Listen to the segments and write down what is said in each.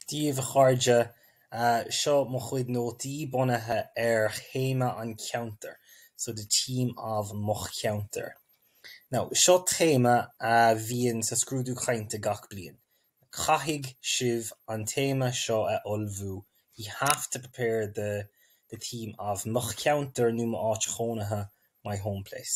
Daoibh, a chairde, seo mo chuid nótaí bunaithe ar théama an cheantair, so the theme of mo cheantar. Now, seo téama a bhíonn sa scrúdú cainte gach bliain. Caithfidh sibh an téama seo a ullmhú, ye have to prepare the the theme of mo cheantar nó m'áit chónaithe, my home place.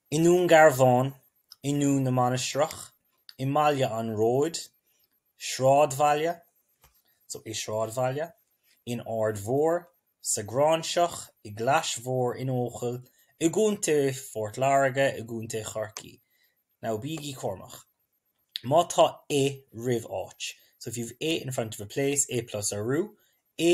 I nDún Garbháin, i nDún na Mainistreach, i mBaile an Róid, Sráidbhaile, so, i Sráidbhaile, in Aird Mhór, sa Ghráinseach, i gClais Mhór, in Eochaill, i gContae Phort Láirge, i gContae Chorcaí. Now bígí cúramach. Má tá i roimh áit, so if you've i in front of a place, i plus urú, i,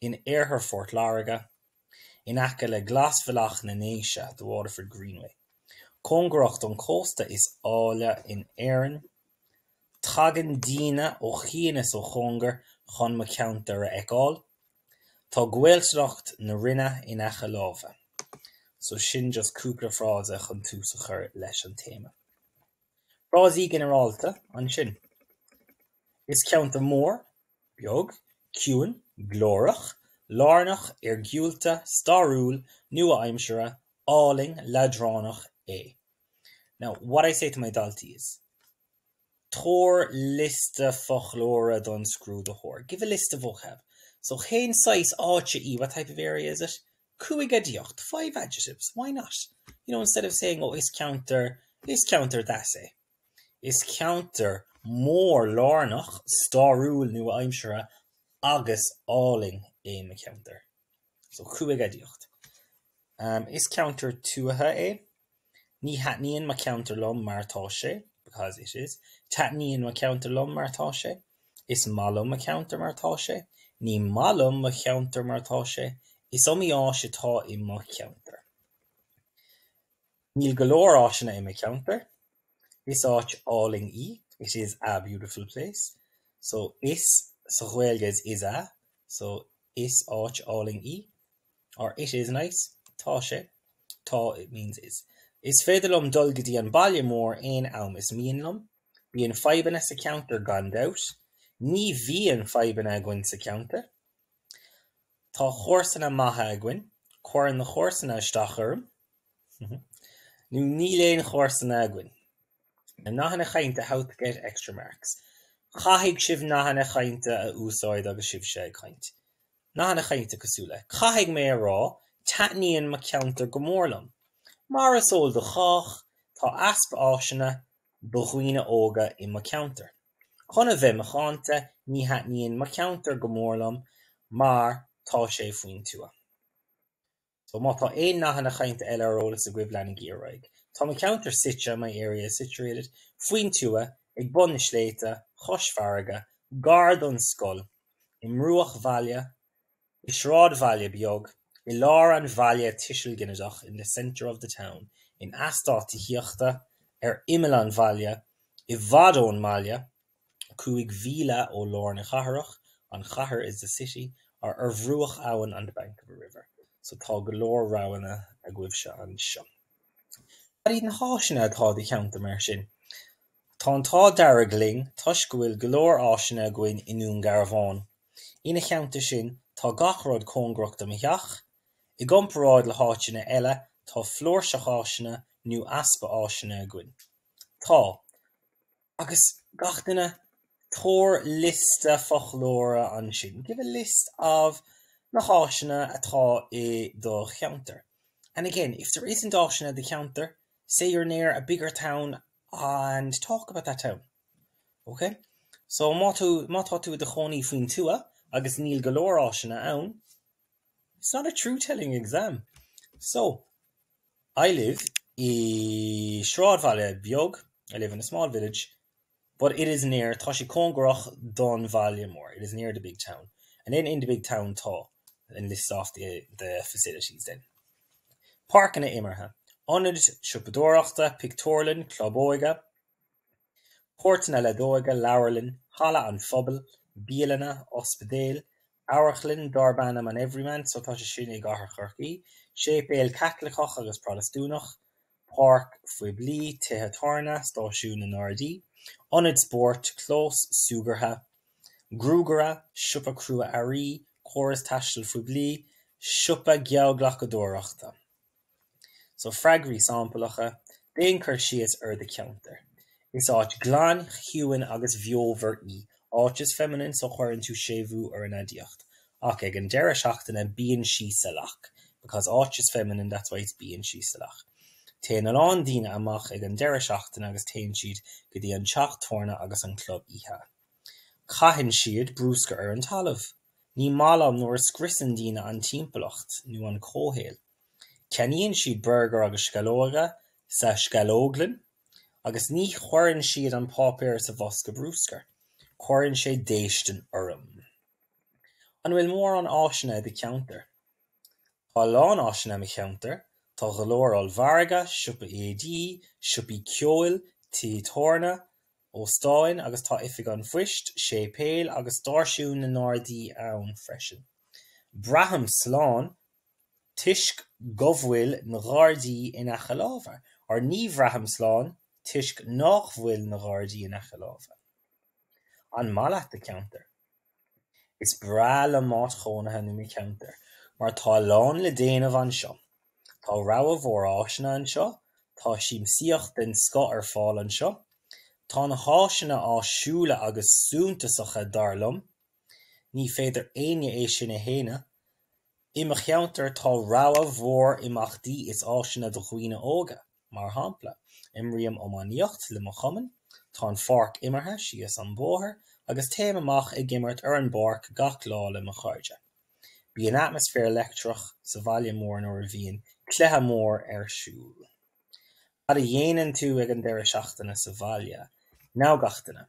in iarthar Phort Láirge, in aice le Glasbhealach na nDéise, the Waterford Greenway, cóngarach don chósta is áille in Éirinn. Tagann daoine ó chian agus ó chóngar chun mo cheantar a fheiceáil. Tá Gaeltacht na Rinne in aice láimhe. So sin just cúpla frása chun tús a chur leis an téama. Frásaí ginearálta ansin. Is ceantar mór beag, ciúin, glórach, lárnach, iargúlta, stairiúil, nua-aimseartha, álainn, leadránach é. Now, what I say to my daltaí is, tabhair liosta foclóra don scrúdaitheoir, give a list of vocab. So, cén saghas áite í, what type of area is it? cúig aidiacht, five adjectives, why not? You know, instead of saying, oh, is ceantar, is ceantar, that's a. Is ceantar mór lárnach, stairiúil, nua-aimseartha agus álainn é mo cheantar. So cúig aidiacht. Is ceantar tuaithe é. Ní thaitníonn mo cheantar liom mar tá sé, because it is. Taitníonn mo cheantar liom mar tá sé. Is maith liom mo cheantar mar tá sé. Ní maith liom mo cheantar mar tá sé. Is iomaí áis atá i mo cheantar. Níl go leor áiseanna i mo cheantar. Is áit álainn í, it is a beautiful place. So, is, sa Ghaeilge is is a, so, is áit álainn í or it is nice. Tá sé, tá it means is. Is féidir liom dul go dtí an baile mór aon am is mian liom. Bíonn fadhbanna sa cheantar gan dabht. Ní bhíonn fadhbanna againn sa cheantar. Tá comharsana maithe againn. Cuireann na comharsana isteach orm. Nó níl aon chomharsana againn. Nathanna cainte How to get extra marks Caithfidh sibh nathanna cainte a úsáid agus sibhse ag caint. Nathanna cainte cosúil le Caithfidh mé a rá, taitníonn mo cheantar go mór liom. Mar is eol do chách, tá easpa áiseanna do dhaoine óga i mo cheantar. Chun a bheith macánta, ní thaitníonn mo cheantar go mór liom mar tá sé faoin tuath. So má tá aon nathanna chainte eile ar eolas agaibh leanaigí ar aghaidh. Tá mo cheantar suite, my area is situated, faoin tuath, ag bun na sléibhte, chois farraige, gar don scoil, i mbruachbhaile, I sráidbhaile beag i lár an bhaile tuisil ginideach in the centre of the town in eastát tithíochta ar imeall an bhaile, i bhfad ón mbaile, cúig mhíle ó lár na cathrach an chathair is the city ar bhruach abhann on the bank of a river so tá go leor roghanna agaibhse anseo. Cad iad na háiseanna atá i do cheantar mar sin? Tá an t-ádh dearg linn toisc go bhfuil go leor áiseanna againn i nDún Garbhán. Ina theannta sin, tá gach rud cóngarach do mo theach. I gcomparáid le háiteanna eile, tá flúirseach áiseanna, nó easpa áiseanna, againn. Tá. Agus, gach duine, tabhair liosta foclóra ansin. Give a list of na háiseanna atá i do cheantar. And again, if there isn't áiseanna i do cheantar, say you're near a bigger town and talk about that town. Okay? So má tú, má tá tú i do chónaí faoin tuath agus níl go leor áiseanna ann, it's not a truth-telling exam. So, I live i sráidbhaile beag, I live in a small village, But it is near, tá sé cóngarach don bhaile mór. It is near the big town. And then in the big town tá and list off the facilities then. Páirceanna imeartha, ionad siopadóireachta, pictiúrlann, club óige, páirceanna leadóige, leabharlann, halla an phobail, bialanna, ospidéal, amharclann darb ainm an Everyman, so tá sé sin i gcathair Chorcaí, séipéal Caitliceach agus Protastúnach, páirc phoiblí, tithe tábhairne, stáisiún na nGardaí, ionad spóirt, clós súgartha, gruagaire, siopa crua-earraí, córas taistil phoiblí, siopa geallghlacadóireachta. So, freagraí samplacha, Déan cur síos ar do cheantar. Is áit glan, chiúin agus bheomhar í, áit is feminine so chuireann tú séimhiú ar an aidiacht. Ach ag an deireadh seachtaine bíonn sí salach, because áit is feminine that's why it's bíonn sí salach. Téann a lán daoine amach ag an deireadh seachtaine agus téann siad go dtí an teach tábhairne agus an club oíche. Caitheann siad bruscar ar an talamh. Ní maith liom nuair a scriosann daoine an timpeallacht nó an comhshaol. Ceannaíonn siad burgair agus sceallóga sa sceallóglann. agus ní chuireann siad an páipéar sa bhosca brúscair. Cuireann sé déistin orm. An bhfuil mórán áiseanna i do cheantar? Tá a lán áiseanna i mo cheantar. Tá go leor ollmhargaí, siopaí éadaí, siopaí ceoil, tithe tábhairne, óstáin agus tá oifig an phoist, séipéal agus stáisiún na nGardaí ann freisin. Braithim slán. toisc go bhfuil na Gardaí in aice láimhe, or ní bhraithim slán toisc nách bhfuil na Gardaí in aice láimhe. An maith leat do cheantar? Is breá liom m'áit chónaithe nó mo cheantar mar tá a lán le déanamh anseo. Tá rogha mhór áiseanna anseo, tá siamsaíocht den scoth ar fáil anseo, tá na háiseanna áisiúla agus súntasacha dar liom, Ní féidir le héinne é sin a shéanadh. I mo cheantar tá rogha mhór imeachtaí is áiseanna do dhaoine óga. Mar shampla, imrím iománaíocht le mo chumann, tá an pháirc imeartha síos an bóthar agus téim amach ag imirt ar an bpáirc gach lá le mo chairde. Bíonn atmaisféar leictreach sa bhaile mór nuair a bhíonn cluiche mór ar siúl. Cad a dhéanann tú ag an deireadh seachtaine sa bhaile? Nathanna cainte.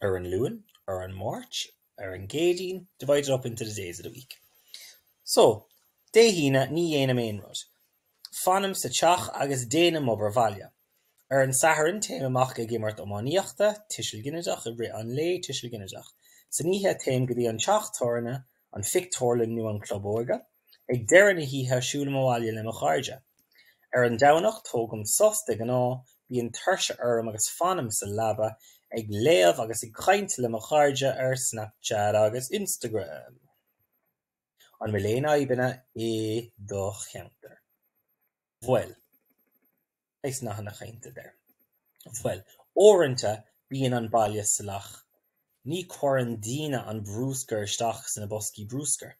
ar an Luan, ar an Máirt, ar an gCéadaoin divided up into the days of the week so Dé hAoine ní dhéanaim aon rud, fanaim sa teach agus déanaim obair bhaile. Ar an Satharn téim amach ag imirt iománaíochta, tuiseal ginideach, i rith an lae, tuiseal ginideach, san oíche téim go dtí an teach tábhairne, an phictiúrlann nó an club óige. Ag deireadh na hoíche siúlaim abhaile le mo chairde. Ar an Domhnach tógaim sos de ghnáth, bíonn tuirse orm agus fanaim sa leaba ag léamh agus ag caint le mo chairde ar Snapchat agus Instagram. An bhfuil aon fhadhbanna i do cheantar? Bhuel. Nathanna cainte there. Bhuel, uaireanta bíonn an baile salach. Ní chuireann daoine an brúscar isteach sna boscaí brúscair.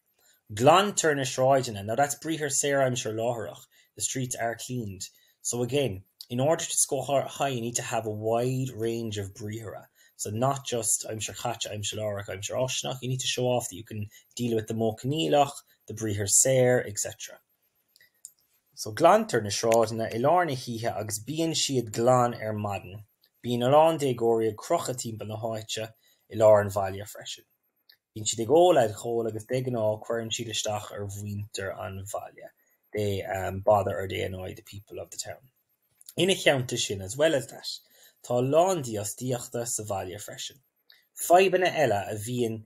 Glantar na sráideanna, now that's briathar saor, aimsir láithreach, the streets are cleaned. So again, in order to score high you need to have a wide range of briathra. So not just aimsir chaite, aimsir láithreach, aimsir fháistineach, you need to show off that you can deal with the modh coinníollach, the briathar saor, etc. So, glantar na sráideanna i lár na hoíche agus bíonn siad glan ar maidin. Bíonn a lán déagóirí ag crochadh timpeall na háite i lár an bhaile freisin. Bíonn siad ag ól alcóil agus de ghnáth cuireann siad isteach ar mhuintir an bhaile, they bother or they annoy the people of the town. Ina theannta sin, as well as that, tá a lán dífhostaíochta sa bhaile freisin. Fadhbanna eile a bhíonn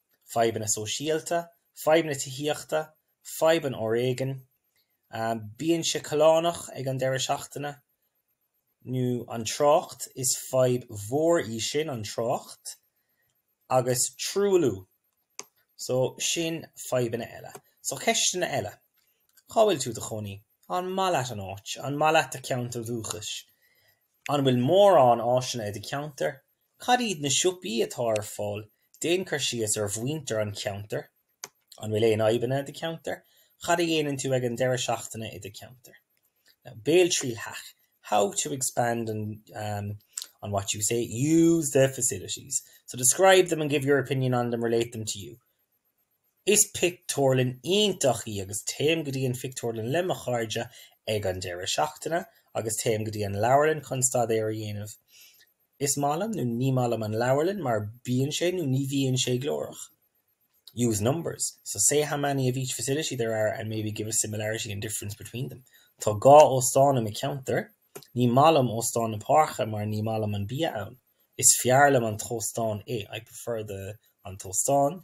fadhbanna sóisialta, fadhbanna tithíochta, fadhbanna foréigin, bíonn sé callánach ag an deireadh seachtaine nó an trácht, is fadhb mhór í sin an trácht, agus truailliú. So, sin fadhbanna eile. So, ceisteanna eile. Cá bhfuil tú do chónaí? An maith leat an áit? An maith leat do cheantar dúchais? An bhfuil mórán áiseanna i do cheantar? Cad iad na siopaí atá ar fáil? Déan cur síos ar mhuintir an cheantair. An bhfuil aon fhadhbanna i do cheantar? Cad a dhéanann tú ag an deireadh seachtaine i do cheantar? Now, Béaltriail hack, How to expand on what you say, use the facilities. So describe them and give your opinion on them, relate them to you. Is pictiúrlann iontach í agus téim go dtí an phictiúrlann le mo chairde ag an deireadh seachtaine agus téim go dtí an leabharlann chun staidéar a dhéanamh. Is maith liom nó ní maith liom an leabharlann mar bíonn sé nó ní bhíonn sé glórach. Use numbers, so say how many of each facility there are and maybe give a similarity and difference between them. Tá dhá óstán i mo cheantar. Ní maith liom Óstán na Páirce mar ní maith liom an bia ann. Is fearr liom an t-óstán, I prefer the an t-óstán i.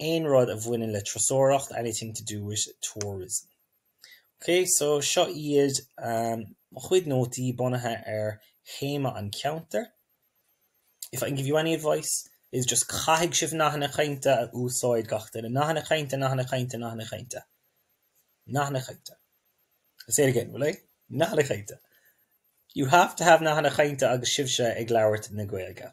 aon rud a bhaineann le turasóireacht, anything to do with tourism. Ok, so seo iad mo chuid nótaí bunaithe ar théama an cheantair. If I can give you any advice, it's just caithfidh sibh nathanna cainte a úsáid, gach duine. Nathanna cainte, nathanna cainte, nathanna cainte. Nathanna cainte. I'll say it again, will I? Nathanna cainte. You have to have nathanna cainte agus sibhse ag labhairt na Gaeilge.